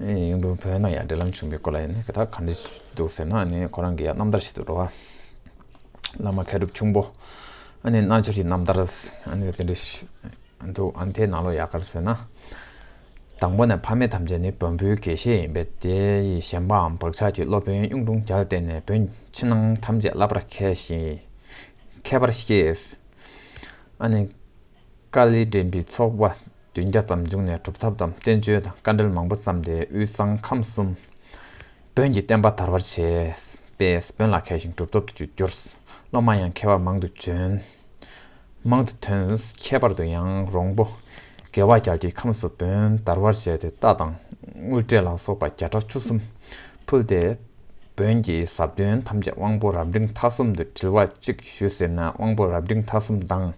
ཡིན། ཡུམ་བོད་ན་ཡང་འབྲེལ་ལམ་བྱུང་བའི་སྐོར་ལ་ཡང་ནི་དེ་དག་གང་འདྲས་འདུག་ཟེར་ན་ནི་ཁོ་རང་གི་ཡང་རྣམ་ཐར་ཞིག་ཏུ་འགྲོ། བླ་མ་མཁས་གྲུབ་ཁྱུང་པོ་ནི་རྣལ་འབྱོར་གྱི་རྣམ་ཐར་ནི་དེ་འདྲས་ཤིག་འདུག་ཨ་མཐའི་ནང་ལོ་ཡག་གར་ཟེར་ན། དང་པོ་ནས་ཕ་མེས་ཐམས་ཅད་ནི་བོན་པོའི་དགེ་བཤེས་ཡིན་པས་དེ་ཡི་གཞན་པའམ་བག་ཆགས་ཀྱིས་སློབ་དཔོན་གཡུང་དྲུང་རྒྱལ་ལ་བསྟེན་ནས་བོན་ཕྱི་ནང་ཐམས་ཅད་བསླབ་པར་མཁས་ཤིང་མཁས་པར་ཤེས། ཨ་ནི། དཀའ་ལས་དྲན་པའི་ཚོགས་པ་བདུན་བརྒྱ་ཙམ་བྱུང་ནས་གྲུབ་ཐོབ་དང་བསྟན་བཅོས་དང་བཀའ་འགྲེལ་མང་པོ་བརྩམས་ཏེ་དབུས་གཙང་ཁམས་གསུམ་བོན་གྱི་བསྟན་པ་དར་བར་བྱས། པས་བོན་ལ་མཁས་ཤིང་གྲུབ་ཐོབ་ཏུ་གྱུར། སློབ་མ་ཡང་མཁས་པ་མང་དུ་བྱོན། མང་དུ་ཐོན། ཁྱད་པར་དུ་ཡང་རོང་པོ་དགེ་བ་རྒྱལ་གྱི་ཁམས་སུ་བོན་དར་བར་བྱས་ཏེ་རྟ་དང་དངུལ་སྐྲས་ལ་སོགས་པ་བརྒྱ་ཕྲག་བཅུ་གསུམ་ཕུལ་ཏེ། བོན་གྱི་ཟབ་དོན་ཐམས་ཅད་དབང་པོ་རབ་འབྲིང་མཐའ་གསུམ་དུ་དྲིལ་བ་གཅིག་ཞུས་ཟེར་ན་དབང་པོ་རབ་འབྲིང་མཐའ་གསུམ་དང།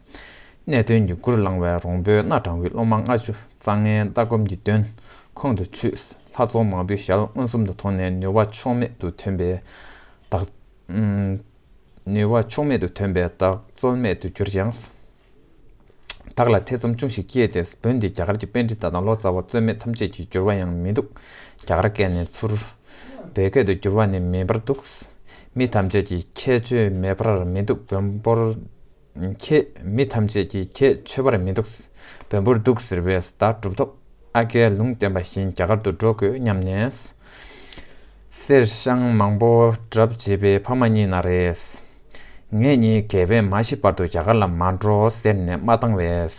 གནད་དོན་ཉུག་གུར་བླང་བའི་རོང་པོའི་སྣ་དྲང་བུའི་སློབ་མ་ལྔ་བཅུ་རྩ་ལྔའི་ལྟ་སྒོམ་གྱི་དོན་ཁོང་དུ་ཆུད། ལྷ་ཚོགས་མང་པོའི་ཞལ་མངོན་སུམ་དུ་མཐོང་ནས་ནུས་བ་ཕྱོགས་མེད་དུ་ཐོན་པས་བདག། ནུས་བ་ཕྱོགས་མེད་དུ་ཐོན་པས་བདག་རྩོལ་མེད་དུ་གྱུར་ཀྱང། དག་ལ་ཐེ་ཚོམ་ཅུང་ཞིག་སྐྱེས་ཏེ་བོད་འདི་རྒྱ་གར་གྱི་དཔེ་འདྲི་ད་དང་ལོ་ཙཱ་བ་རྩོད་མེད་ཐམས་ཅད་ཀྱིས་བསྒྱུར་བ་ཡང་མི་འདུག་རྒྱ་གར་སྐད་ནས་ཚུར་བོད་སྐད་དུ་བསྒྱུར་བ་ནི་མིན་པར་འདུག་མི་ཐམས་ཅད་ཀྱིས་ཁྱད་ཆོས་མེད་པར་མི་འདུག་བོན་པོར་ཁྱེད་མི་ཐམས་ཅད་ཀྱིས་ཁྱད་ཆོས་པར་མི་འདུག་བོན་པོར་འདུག་ཟེར་བས་ཟླ་གྲུབ་ཐོབ་ཨ་ཀའི་ལུང་བསྟན་པ་བཞིན་རྒྱ་གར་དུ་འགྲོ་དགོས་སྙམ་ནས། གསེར་བཤང་མང་པོ་གྲབས་བྱེད་པའི་ཕ་མ་གཉིས་ན་རེས། ངེད་གཉིས་དགེ་བས་མ་ཤི་བར་དུ་རྒྱ་གར་ལ་མ་འགྲོ་ཟེར་ནས་མ་བཏང་བས།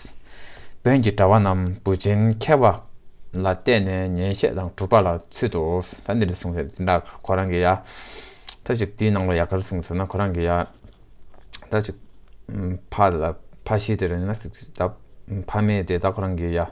བོན་གྱི་གྲྭ་བ་རྣམས་བུ་ཆེན་མཁས་པ་ལ་བལྟས་ནས་ཉན་བཤད་དང་གྲུབ་པ་ལ་ཚུད་དོ། ད་འདི་ལས་གསུངས་ཟེར་དེ་འདྲ་ཁོ་རང་གི་ཡ། ད་ཅིག་དེའི་ནང་ལ་ཡ་གར་གསུངས་ཟེར་ན་ཁོ་རང་གི་ཡ། ད་ཅིག་ཕ་ལ་ཕ་ཤི་དེ་རེད་ན་ཕ་མེད་དེ་ད་ཁོ་རང་གི་ཡ།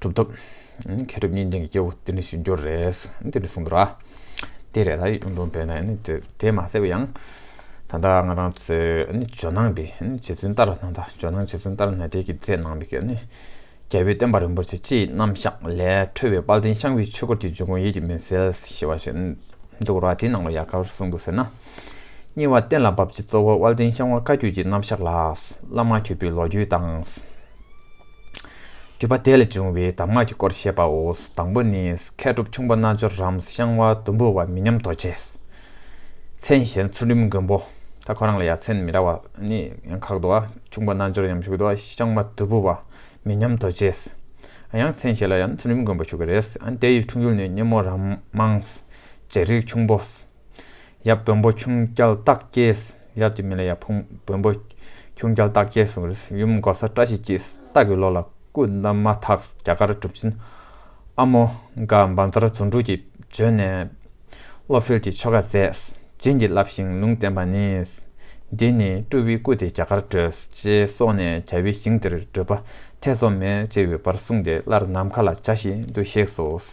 གྲུབ་ཐོབ། མཁས་གྲུབ་གཉིས་ལྡན་གྱི་སྐྱེ་བོ་དེ་ནི་ཞིབ་འཇུག་རེད། དེ་ནི་གསུང་དུ་ར། དེ་རེད་ལ་ཡིག་ནོར་འབེལ་ན་ཡིན་ནོ། དེ་མ་ཟེར་བ་ཡང། ད་ལྟ་ང་རང་ཚོའི་ཇོ་ནང་པའི་རྗེ་བཙུན་ཏཱ་ར་ནཱ་ད་ཇོ་ནང་རྗེ་བཙུན་ཏཱ་ར་ནཱ་དའི་གི་ཛས་གནང་བའི་གི་ནི། རྒྱལ་པོའི་བསྟན་པ་རིན་པོ་ཆེ་སྤྱིའི་རྣམ་གཞག་ལས་འཕྲོས་པའི་དཔལ་ལྡན་ཤངས་པའི་ཆོས་སྐོར་གྱི་འབྱུང་ཁུངས་ཡིད་ཀྱི་མི་གསལ་ཞེས་པ་ཞིག་འདུག་ར་དེའི་ནང་ལ་ཡ་གར་གསུང་འདུག་ཟེར་ན། གཉིས་བ་གཏན་ལ་འབབ་ཀྱི་གཙོ་བོ་དབལ་ལྡན་ཤང་བ་བཀའ་བརྒྱུད་ཀྱི་རྣམ་གཞག་ལགས། བླ་མ་ཁྱོད་བུའི་ལོ་རྒྱུས་དང། བརྒྱུད་པ་དེ་ལས་བྱུང་བའི་གདམས་ངག་གི་སྐོར་བཤད་པའོ། དང་པོ་ནི། མཁས་གྲུབ་ཁྱུང་པོ་རྣལ་འབྱོར་རམ་ཤང་བ་དུམ་བུ་བ་མི་ཉམས་རྡོ་རྗེ། མཚན་གཞན་ཚུལ་ཁྲིམས་མགོན་པོ། ད་ཁོ་རང་ལ་ཡ་མཚན་མི་ར་བ་ནི་ཡང་ཁག་དུ་བ་ཁྱུང་པོ་རྣལ་འབྱོར་ཡམ་ཞུགས་དུ་བ་ཤང་བ་དུལ་བུ་བ་མི་ཉམས་རྡོ་རྗེ། ཡང་མཚན་གཞན་ལ་ཡང་ཚུལ་ཁྲིམས་མགོན་པོ་ཞུགས་ཀྱི་རེད། དེ་ཡི་འཁྲུངས་ཡུལ་ནི་སྙེ་མོ་རམ་དམངས། རྗེ་རིགས་ཁྱུང་པོ། ཡབ་བོན་པོ་ཁྱུང་སྐྱལ་སྟག་སྐྱེས། ཡབ་ཀྱི་མིང་ལ་ཡབ་ཕུང་བོན་པོ། ཁྱུང་སྐྱལ་སྟག་སྐྱེས་སུ་རེད། ཡུམ་མགོ་ས་བཀྲ་ཤིས་སྐྱིད། སྟག་གི་ལོ་ལ་སྐུ་བདམས་མ་ཐག་རྒྱ་གར་གྲུབ་ཆེན་ཨ་མོ་དགའ་འབངས་རྩ་ར་ཟུང་དྲུག་གིས་བྱོན་ནས། བློ་གསལ་གྱི་ཆོ་ག་མཛད། བྱིན་གྱིས་བརླབས་ཤིང་ལུང་བསྟན་པ་ནི། འདི་ནི་སྤྲུལ་བའི་སྐུ་དེ་རྒྱ་གར་བྲོས། ཅེས་སོགས་ནས་གྱ་བའི་ཞིང་དེར་བགྲོད་པ་ཐེ་ཚོམ་མེད་ཅེས་པའི་བར་གསུངས་ཏེ་སླར་ནམ་མཁའ་ལ་བྱ་ཞིང་འདུ་ཤེས་སོ།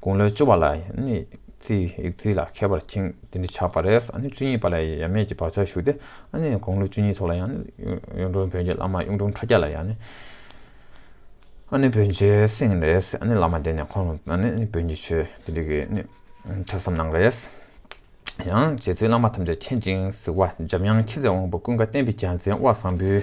དགུང་ལོ་བཅུ་བ་ལ་ཙི་ལ་མཁས་པར་ཁེངས་དེ་འདི་ཆགས་པ་རེད། བཅུ་གཉིས་པ་ལ་ཡང་ཡབ་མེས་ཀྱི་བག་ཆགས་ཞུགས་ཏེ། དགུང་ལོ་བཅུ་གཉིས་ཐོག་ལ་ཡང་གཡུང་དྲུང་བོན་གྱི་བླ་མ་གཡུང་དྲུང་ཁྲོ་རྒྱལ་ལ་ཡང་བོན་ཆོས་གསན་རེད། བླ་མ་དེ་ནས་ཁོང་རང་བོན་གྱི་ཆོས་དེ་རིགས་ཐོས་བསམ་གནང་རེད། ཡང་རྗེ་བཙུན་བླ་མ་ཐམས་ཅད་མཁྱེན་ཅིང་གཟིགས་པ་འཇམ་དབྱངས་མཁྱེན་བརྩེ་དབང་པོ་ཀུན་དགའ་བསྟན་པའི་རྒྱལ་མཚན་དབལ་བཟང་པོའི།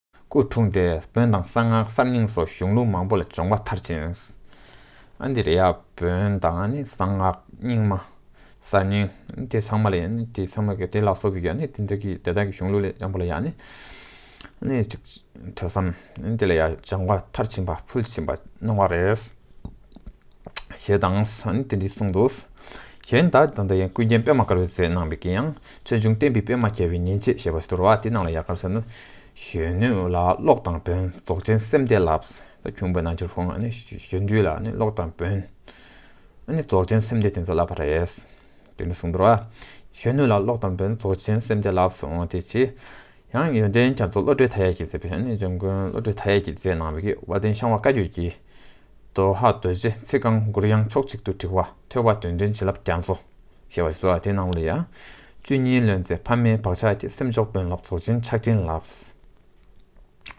སྐུ་འཁྲུངས་ཏེ་བོན་དང་གསང་སྔགས་གསར་རྙིང་སོགས་གཞུང་ལུགས་མང་པོ་ལ་སྦྱོང་བ་མཐར་ཕྱིན། ཨ་འདི་རེ་ཡ་བོན་དང་གསང་སྔགས་རྙིང་མ་གསར་རྙིང་དེ་ཚང་མ་ལ་ཡ་དེ་ཚང་མ་དེ་ལ་སོགས་པའི་ཡ་དེ་དག་གི་དེ་དག་གི་གཞུང་ལུགས་ལས་ཡང་པོ་ལ་ཡ་ནི་ཐོས་བསམ་དེ་ལ་ཡ་སྦྱང་བ་མཐར་ཕྱིན་པ་ཕུལ་ཕྱིན་པ་གནང་བ་རེད། ཞེས་དང། དེ་འདི་གསུངས་འདུག། གཞན་དག་དང་འདི་ཡང་ཀུན་མཁྱེན་པདྨ་དཀར་བོའི་ཚེ་ནང་པའི་ཀྱེ་ཡང་ཆོས་འབྱུང་བསྟན་པའི་པད་མ་རྒྱལ་བའི་ཉིན་བྱེད་ཞེས་པ་ཟློར་བ་དེ་རྣམས་ལ་ཡ་གར་ཟེར་ནོ། གཞོན་ནུ་ལ་ཀློག་དང་བོན་རྫོགས་ཆེན་སེམས་བསྐྱེད་ལ། ཁྱུང་པོའི་རྣལ་འབྱོར་ཧོ། གཞོན་དུས་ལ་ཀློག་དང་བོན། རྫོགས་ཆེན་སེམས་བསྐྱེད་དེ་ཚོ་བསླབ་པར་རེས། དེ་འདི་གསུངས་འདུག། གཞོན་ནུ་ལ་ཀློག་དང་བོན་རྫོགས་ཆེན་སེམས་བསྐྱེད་ལ། དེ་ཕྱིར་ཡང་ཡོན་ཏན་རྒྱ་མཚོ་བློ་གྲོས་མཐའ་ཡས་ཀྱིས་མཛད་པའི། འཇམ་མགོན་བློ་གྲོས་མཐའ་ཡས་ཀྱིས་མཛད་གནང་བའི། བ་དན་ཤངས་བ་བཀའ་བརྒྱུད་ཀྱི། དོ་ཧ་རྡོ་རྗེ་ཚིག་རྐང་མགུར་དབྱངས་ཕྱོགས་གཅིག་ཏུ་བྲི་བ་ཐོས་པ་དོན་མཐུན་བྱིན་རླབས་རྒྱ་མཚོ། ཞེས་པ་སོགས་དེ་ནང་ལ་ཡང། བཅུད་སྙིང་ལོན་ཚེ་ཕ་མའི་བག་ཆགས་ཀྱིས་སེམས་མཆོག་དཔོན་ལ་རྫོགས་ཆེན་ཕྱག་ཆེན་ལགས།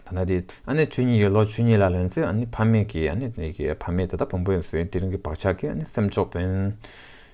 ད་ནི་དེ་ཨ་ནི་བཅུད་སྙིང་ཡོད་ལོ་བཅུད་སྙིང་ལ་ལོན་ཚེ་ཨ་ནི་ཕ་མེས་ཀྱིས་ཨ་ནི་ཕ་མེས་ད་ལྟ་བོང་བུ་ཡིན་ཟེར་བའི་དེ་རིང་གི་བག་ཆགས་ཀྱིས་ཨ་ནི་སེམས་མཆོག་དཔོན།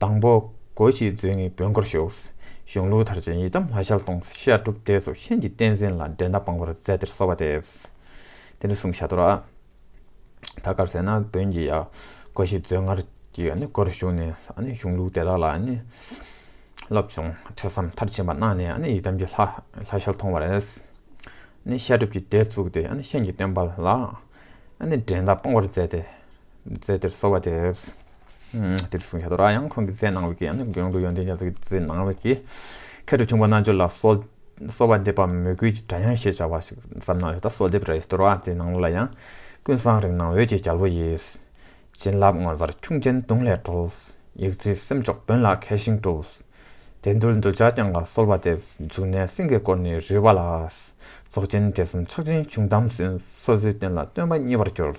དང་པོ། གོ་ཞེས་མཛོད་ངས་བོན་སྒོར་ཞོགས། གཞུང་ལུགས་དར་ཅན་ཡི་དམ་ལྷ་ཞལ་གདོང། བཤད་སྒྲུབ་སྡེ་སོགས་གཤེན་གྱི་བསྟན་འཛིན་ལ། འགྲན་ཟླ་སྤངས་པར་མཛད་བདེར་གསོལ་བ་འདེབས། དེ་ནས་གསུང་བྱ་དོར་བ། ད་གར་ཟེར་ན་བོན་གྱི་ཡང། གོ་ཞེས་མཛོད་སྔར་གྱི་སྒོར་ཞུགས་ནས། གཞུང་ལུགས་དེ་དག་ལ། སློབ་སྦྱོང་ཐོས་བསམ་མཐར་ཕྱིན་པ་གནང་ནས་ཡི་དམ་གྱི་ལྷ་ཞལ་མཐོང་བར། བཤད་སྒྲུབ་ཀྱི་སྡེ་བཙུགས་ཏེ་གཤེན་གྱི་བསྟན་པ་ལ། འགྲན་ཟླ་སྤངས་པར་མཛད་དེ། རྫས་དེར་གསོལ་བ་འདེབས། དེ་ལྟར་གསུང་བྱ་དོ་ར་ཡང་ཁོང་གི་རྫས་གནང་བའི་གེགས་ནི་གཡུང་དྲུང་ཡོན་ཏན་རྒྱ་མཚོ་གི་རྫས་གནང་བའི་གེགས་ཁྱད་དུ་འཕྱུངས་པ་རྣལ་འབྱོར་ལ་གསོལ་གསོལ་བ་འདེབས་པ་མོས་གུས་ཀྱི་སྒྲ་དབྱངས་ཞེས་བྱ་བ་ཞིག་ཙམ་གནང་བ་དེ་ལྟར་གསོལ་འདེབས་ར་ཡིས་དོ་ར་རྫས་གནང་བ་ལ་ཡང། ཀུན་བཟང་རིགས་སྣང་འོད་ཀྱི་རྒྱལ་པོ་ཡིས། བྱིན་བརླབས་ངོ་མཚར་ཁྱུང་ཆེན་གདུང་ལས་གྲོལ། ཡིག་རྩིས་སེམས་ཕྱོགས་བོན་ལ་མཁས་ཤིང་གྲུབ། དད་འདུལ་འདུལ་བྱ་བསྐྱངས་ལ་གསོལ་བ་འདེབས། འཇུག་གནས་སེང་གེ་བསྐོར་ནས་རུལ་བ་ལ། རྫོགས་ཆེན་དད་གསུམ་ཕྱག་ཆེན་གཞུང་དམ་སོ་སོའི་རྟེན་ལ་སྟོན་པ་མཉེས་པར་གྱུར།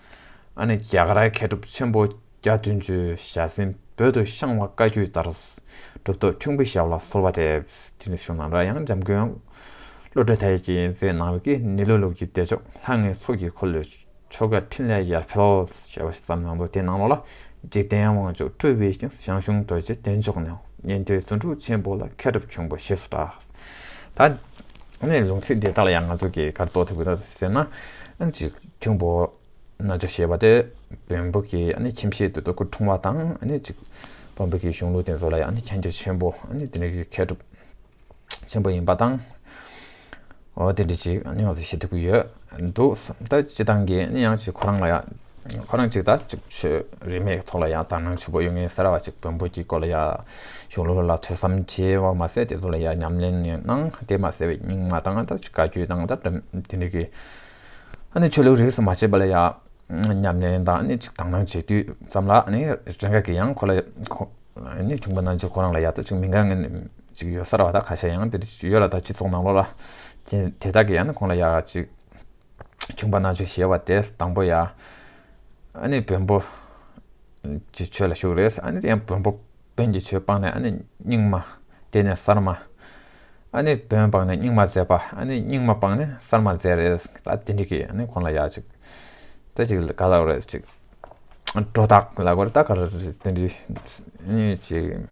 ཨ་ནི་རྒྱ་གར་མཁས་གྲུབ་ཆེན་པོ་རྒྱ་བདུན་ཅུའི་ཞལ་གཟན་འབོད་དུ་བཤང་བ་བཀའ་བརྒྱུད་ལྟར། གྲུབ་ཐོབ་ཁྱུང་པོའི་ཞབས་ལ་གསོལ་བ་འདེབས། དེ་ནས་བྱུང་ན་ར་ཡང་འཇམ་མགོན། བློ་གྲོས་དལ་གྱིས་མཛད་གནང་བའི་ཀྱི་ནི་ལོ་ལོ་ཀྱི་བདེ་མཆོག་ལྷ་ལྔའི་ཚོགས་ཀྱི་འཁོར་ལོའི་ཆོ་ག་ཕྲིན་ལས་ཡར་འཕེལ། ཞེས་པ་ཞིག་བརྩམས་གནང་འདུག་དེའི་ནང་ལོགས་ལ་འཇིག་རྟེན་དབང་ཕྱུག་སྤྲུལ་པའི་ཞིང་ཞང་ཞུང་རྡོ་རྗེ་བདེ་མཆོག་ནས་ཉན་ཐོས་རྫུ་འཕྲུལ་ཆེན་པོ་ལ་མཁས་གྲུབ་ཁྱུང་པོ་ཞེས་སུ་གྲགས། ད་ནི་ལུང་ཚིག་འདི་དག་ལ་ཡང་ང་ཚོས་གི་གར་རྟོགས་ཐུབ་ཀྱི་འདུག་ཟེར་ན། ཁྱུང་པོ་རྣལ་འབྱོར་ཞེས་པ་སྟེ་བོན་པོ་ཀྱི་ཁྱིམ་གཞིས་དེ་དུ་ཁུ་འཁྲུངས་བ་དང་གཅིག་བོན་པོ་ཀྱི་གཞུང་ལུགས་དེ་ཚོ་ལ་ཡང་མཁྱེན་རྒྱ་ཆེན་པོ་དེ་འདྲ་གྱི་མཁས་གྲུབ་ཆེན་པོ་ཡིན་པ་དང། དེ་འདྲ་ཅིག་ང་ཚོས་ཤེས་ཐུབ་ཀྱི་ཡོད་འདུག་བསམ་ད་སྤྱི་བཏང་གི་ཡང་ཅིག་ཁོ་རང་ལ་ཡང་ཁོ་རང་ཅིག་ད་ཅིག་ཆོས་རིས་མེད་ཐོག་ལ་ཡང་དག་སྣང་ཆེན་པོ་ཡོད་ངེས་ཟེར་བ་ཅིག་བོན་པོ་ཀྱི་སྐོར་ལ་ཡང་གཞུང་ལུགས་ལ་ཐོས་བསམ་བྱས་བ་མ་ཟད་དེ་ཚོ་ལ་ཡང་ཉམས་ལེན་གནང་དེ་མ་ཟད་པའི་རྙིང་མ་དང་ད་ཅིག་བཀའ་བརྒྱུད་དང་ད་དེ་འདྲ་གི། ནི་ཆོས་ལུགས་རིས་སུ་མ་ཆད་པ་ལ་ཡང་ཉམས་ལེན་དང་ནི་དག་སྣང་བྱེད་དུས་ཙམ་ལ་ནི་རེ་འགས་ཀྱི་ཡང་ཁོ་ལ་ནི་བྱུང་བ་ན་རྗེ་ཁོ་རང་ལ་ཡག་ཐབས་ཅིག་མི་འགའ་ངན་ཅིག་ཡོད་སར་བ་དག་ཁ་ཤས་ཡང་འདིར་ཡོད་ལ་དག་སྤྱི་ཚོགས་ནང་ལོག་ལ་ཅན་དེ་དག་གི་ཡང་ནི་ཁོང་ལ་ཡག་ཅིག་བྱུང་བ་ན་ཆོས་ཞེས་བ་དེས་དང་པོ་ཡང་ནི་བོན་པོ་གྱི་ཆོས་ལ་ཞུགས་རེས་ཡང་བོན་པོ་བོན་གྱི་ཆོས་སྤངས་ནས་ནི་རྙིང་མ་དེ་ནས་གསར་མ། ཨ་ནི་བོན་སྤངས་ནས་རྙིང་མ་མཛད་པ་ཨ་ནི་རྙིང་མ་སྤངས་ནས་གསར་མ་མཛད་རེད་ད་དེ་འདྲི་གི་ཨ་ནི་ཁོང་ལ་ཡག་ཅིག་ད་ཅིག་ག་ལ་རེད་ཅིག་སྒྲོ་བཏགས་ལ་གོ་རེད་ད་ག་ལ་རེད་ཅིག་དེ་འདྲི་ཨེ་ཅིག།